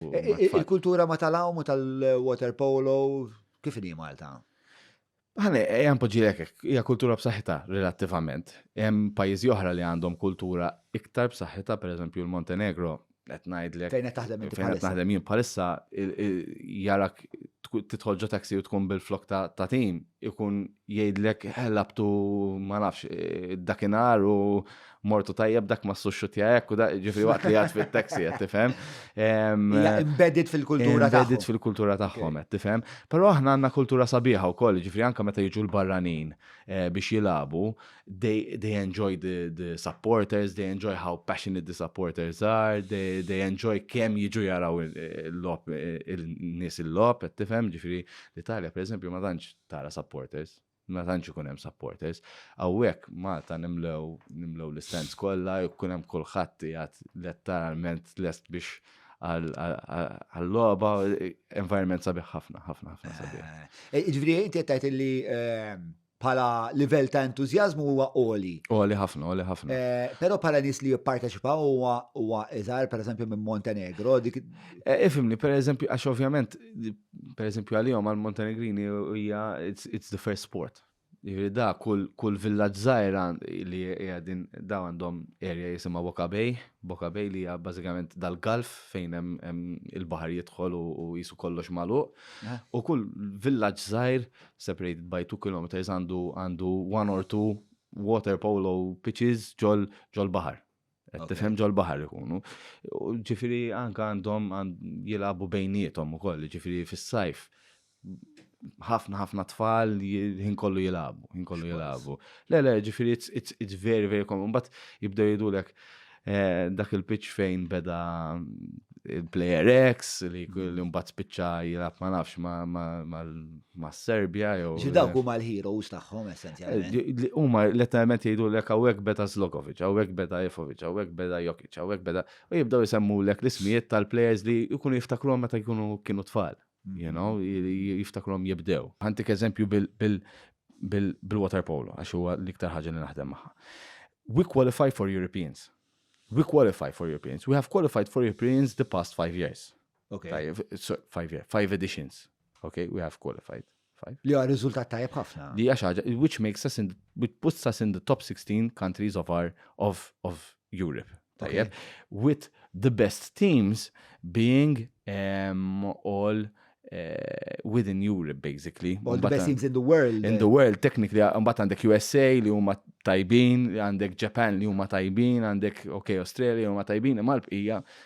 Il-kultura ma tal-għawm u tal-water polo, kif inhi Malta? Għane, jgħan poġilek, hija kultura b'saħħitha relattivament. Hemm pajjiżi oħra li għandhom kultura iktar b'saħħitha, per eżempju l-Montenegro, qed ngħidlek. Fejn qed taħdem inti Fejn qed naħdem jien bħalissa jarak tidħol ġo taxi u tkun bil-flok ta' tim ikun jgħidlek labtu ma nafx dakinhar u mortu tajjeb dak ma suxxutja hekk u da ġifri waqt li għad fit-taxi qed tifhem. Embedded fil-kultura tagħhom. Embedded fil-kultura tagħhom qed tifhem. Però aħna għandna kultura sabiħa wkoll, ġifri anke meta jiġu l-barranin eh, biex jilagħbu, they enjoy the supporters, they enjoy how passionate the supporters are, they enjoy kemm jiġu jaraw eh, l-lop eh, il-nies il-lop qed tifhem, ġifri l-Italja pereżempju ma tantx tara supporters, ma tantx ikun hemm supporters. Hawnhekk Malta nimlew nimlew l-istands kollha, jkun hemm kulħadd qiegħed letteralment lest biex għall-logħba environment sabiħ ħafna, ħafna, ħafna sabiħ. Eh, eh, ġifieri inti qed li eh, bħala livell ta' entużjażmu huwa oli. Oli ħafna, oli ħafna. Però bħala nies li jipparteċipaw huwa huwa iżgħar pereżempju minn Montenegro. Ifimni, pereżempju għax ovvjament Per eżempju għalihom għal Montenegrini hija it's the first sport. Jiġifieri da kull kull villaġġ żgħira li hija din da għandhom area jisimha Boka Bay, Boka Bay li hija bażikament dal-galf fejn hemm il-baħar jidħol u jisu kollox magħluq. Eh. U kull villaġġ żgħir separated by 2 kilometers għandu għandu one or two water polo pitches ġol ġol baħar. Qed tifhem ġol-baħar ikunu. Ġifieri anke għandhom jilagħbu bejniethom ukoll, ġifieri fis-sajf ħafna ħafna tfal jien kollu jilagħbu, jien kollu jilagħbu. Le le, ġifieri it's very very common, but jibdew jidulek eh, dak il-pitch fejn beda il-player X li mm. mbagħad spiċċa jilgħab ma nafx ma mas-Serbja jew. Ġifieri dawk huma l-heroes tagħhom essenzjalment. Huma letteralment jgħidulek hawnhekk beda Zlokovic, hawnhekk beda Ifovic, hawnhekk beda Jokic, hawnhekk beda u jibdew isemmulek l-ismijiet tal-players li jkunu jiftakruhom meta jkunu kienu tfal. You know, jiftakruhom jibdew. Ħantik eżempju bil-water polo għax huwa l-iktar ħaġa li naħdem magħha. We qualify for Europeans. We qualify for Europeans. We have qualified for Europeans the past five years. Okay. Tajjeb, so, five, yeah, five editions. Okay, we have qualified. Five. Li għar riżultat tajjeb ħafna. Li għax ħaġa, which makes us in, which puts us in the top 16 countries of our, of, of Europe. Tajjeb, okay. with the best teams being um, all uh, within Europe basically. All the best teams in the world. In the eh. world, technically, mbagħad għandek USA li huma tajbin, għandek Japan li huma tajbin, għandek ok Australia li huma tajbin, imma l-bqija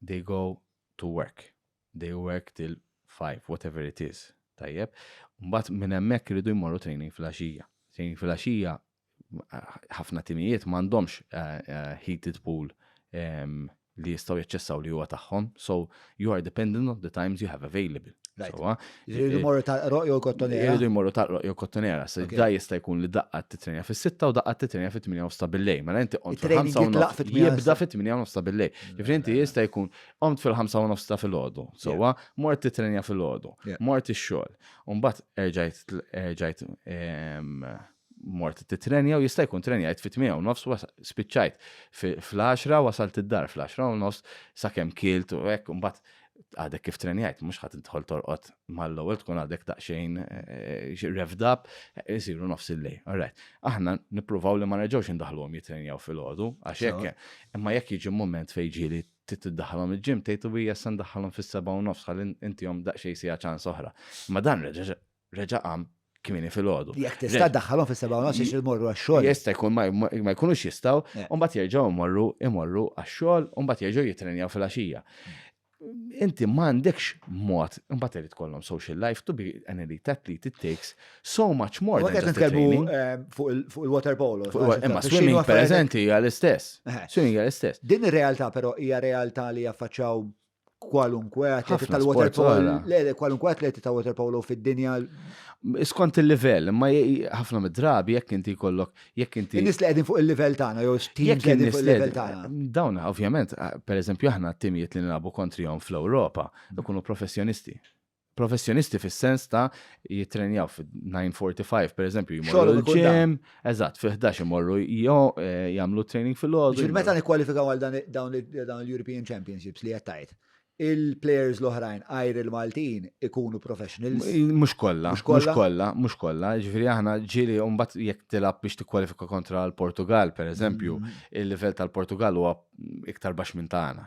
They go to work. They work till five, whatever it is. Tajjeb. Mbagħad minn hemmhekk iridu jmorru training fil-għaxija. Training fil-għaxija ħafna timijiet m'għandhomx eh, eh, heated pool ehm, li jistgħu jaċċessaw li huwa tagħhom, so you are dependent on the times you have available. Right. So, Jridu jmorru tal-qroq jew kottonera. Jridu jmorru tal-qroq jew kottonera. Se da jista' jkun li daqqa titrenja fis-sitta u daqqa titrenja fit-8 nofs ta' billej. Mela inti qont fil-5 u nofs. Jibda fit-8 nofs ta' billej. Ġifri inti jista' jkun qont fil-5 u nofs ta' fil-ħodu. Sowa, mort titrenja fil-ħodu. Mort ix-xogħol. Umbat erġajt mort titrenja u jista' jkun trenjajt fit tmija u nofs spiċċajt fl-10 wasalt id-dar fl-10 u nofs sakemm kilt u hekk mbagħad għadek kif trenjajt, mhux ħadd intħol torqod mal-ewwel tkun għadek taqxejn eh, revd up, isiru nofs il-lej. Alright. Aħna nippruvaw li ma nerġgħux indaħluhom jitrenjaw fil-għodu għax hekk. Imma jekk jiġi moment fejn ġieli tiddaħħalhom il-ġim tgħid u hija se ndaħħalhom fis-seba' u nofs ħalli intihom daqsxejn sija ċans oħra. Ma dan reġa' reġa' qam kmini fil-ħodu. Jek tista' daħħalhom fis-seba' u nofs imorru għax-xogħol. Jista' jkun ma jkunux jistgħu, eh. u mbagħad jerġgħu jmorru imorru għax-xogħol u mbagħad jerġgħu jitrenjaw fil-għaxija. Inti m'għandekx mod, mbagħad irid kollhom social life to be an elite athlete it takes so much more than just training. Eh, fuq il-water polo. Imma swimming pereżenti hija l-istess. Eh. Swimming hija l-istess. Din ir-realtà però hija realtà li jaffaċċaw kwalunkwe atleti tal-water polo. Le, le, kwalunkwe atleti ta' water polo fid-dinja. Skont il-livell, ma ħafna mid-drabi jekk inti kollok, jekk inti. Nis li qegħdin fuq il-livell tagħna jew x'tim qegħdin fuq il-livell tagħna. Dawn ovvjament, pereżempju aħna t-timijiet li nilagħbu kontrihom fl-Ewropa, ikunu professjonisti. professjonisti fis-sens ta' jittrenjaw fil-945, per eżempju, jmorru l-ġem, eżatt, fil-11 jmorru eh, jagħmlu training fil-ħodu. Ġil meta nikkwalifikaw għal dawn l-European Championships li jettajt, il-players l-oħrajn għajr il-Maltin ikunu professionals. Mux kolla, mux kolla, mux kolla. Ġifiri aħna ġili umbat jek tilab biex tikkwalifika kontra l-Portugal, per eżempju, mm-hmm. il-level tal-Portugal huwa iktar bax minn tagħna.